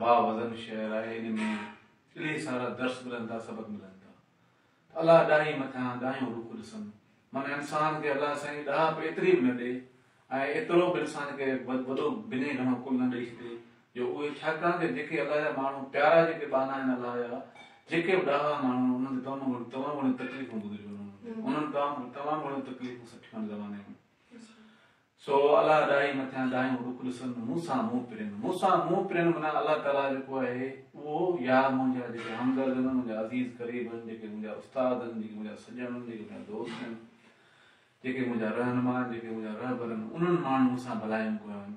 با وزن شعر آهي ان ۾ الهي سارا درس ملن ٿا سبق ملن ٿا ته الله ڏاهي مٿان ڏاهيون رخ ڏسن معنيٰ انسان کي الله سائين ڏاهپ ايتري به نه ڏي ۽ ايترو به انسان کي وڏو بنهه گهڻو ڪل نه ڏئي ڇڏي جو اهي ڇاڪاڻ ته جيڪي الله جا ماڻهو پيارا جيڪي ٻانها آهن الله جا جيڪي به ڏاها ماڻهو آهن انهن تمام گهڻيون تمام گهڻيون تڪليفون گذريون انهن تمام تمام گهڻيون تڪليفون سٺيون آهن زماني ۾ سو الله ڏاهي مٿيان ڏاهيون رخ ڏسن مون سان منهن پرين مون سان منهن پرين معنيٰ الله تعاليٰ جيڪو آهي اهو يا منهنجا جيڪي همدرد آهن منهنجا عزيز قريب آهن جيڪي منهنجا استاد آهن جيڪي منهنجا سڄڻ آهن جيڪي منهنجا دوست آهن جيڪي منهنجا رهنما آهن جيڪي منهنجا رهبر آهن انهن ماڻهن مون سان ڀلايون ڪيون آهن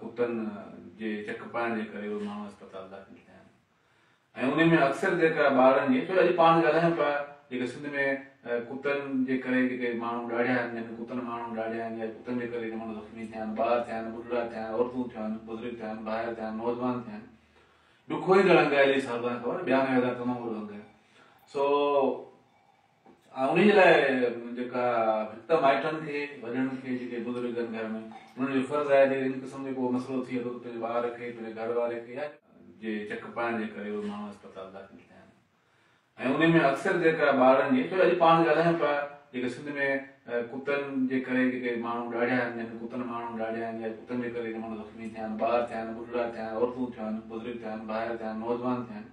ڪتن جي چڪ پائڻ جي ڪري اهي ماڻهو اسپتال داخل ٿيا آهن ۽ انهن ۾ اڪثر جيڪا ٻارن جي ڇو اڄ پاڻ ڳالهايون پيا جيڪا سنڌ ۾ ڪتن جي ڪري جيڪي ماڻهو ڏاڙهيا آهن جن ڪتن ماڻهو ڏاڙهيا آهن يا ڪتن جي ڪري ماڻهو زخمي ٿيا آهن ٻار ٿيا آهن ٻڍڙا ٿيا آهن عورتون ٿيون آهن بزرگ ٿيا آهن ڀائر ٿيا آهن نوجوان ٿيا آهن ڏکوئيندڙ انگ آهي علي صاحب تان خبر ٻيانوي هزار تمام وڏو انگ آهي سو انهيء جي لاء جيڪا ڀت مائٽن کي، وڏن کي، جيڪي بزرگ آهن گهر ۾، انهن جو فرض آهي ته ان قسم جو ڪو مسئلو ٿئي ٿو ته پنهنجي ٻار کي، پنهنجي گهر واري کي يا. جي چڪ پائڻ جي ڪري اهي ماڻهو اسپتال داخل ٿيا آهن ۽ انهيء ۾ اڪثر جيڪا ٻارن جي ڇو اڄ پاڻ ڳالهايون پيا جيڪي سنڌ ۾ ڪتن جي ڪري جيڪي ماڻهو ڏاڙهيا آهن جن ڪتن ماڻهو ڏاڙهيا آهن يا ڪتن جي ڪري جي ماڻهو زخمي ٿيا آهن، ٻار ٿيا آهن، ٻڍڙا ٿيا آهن، عورتون ٿيون آهن، بزرگ ٿيا آهن، نوجوان ٿيا آهن.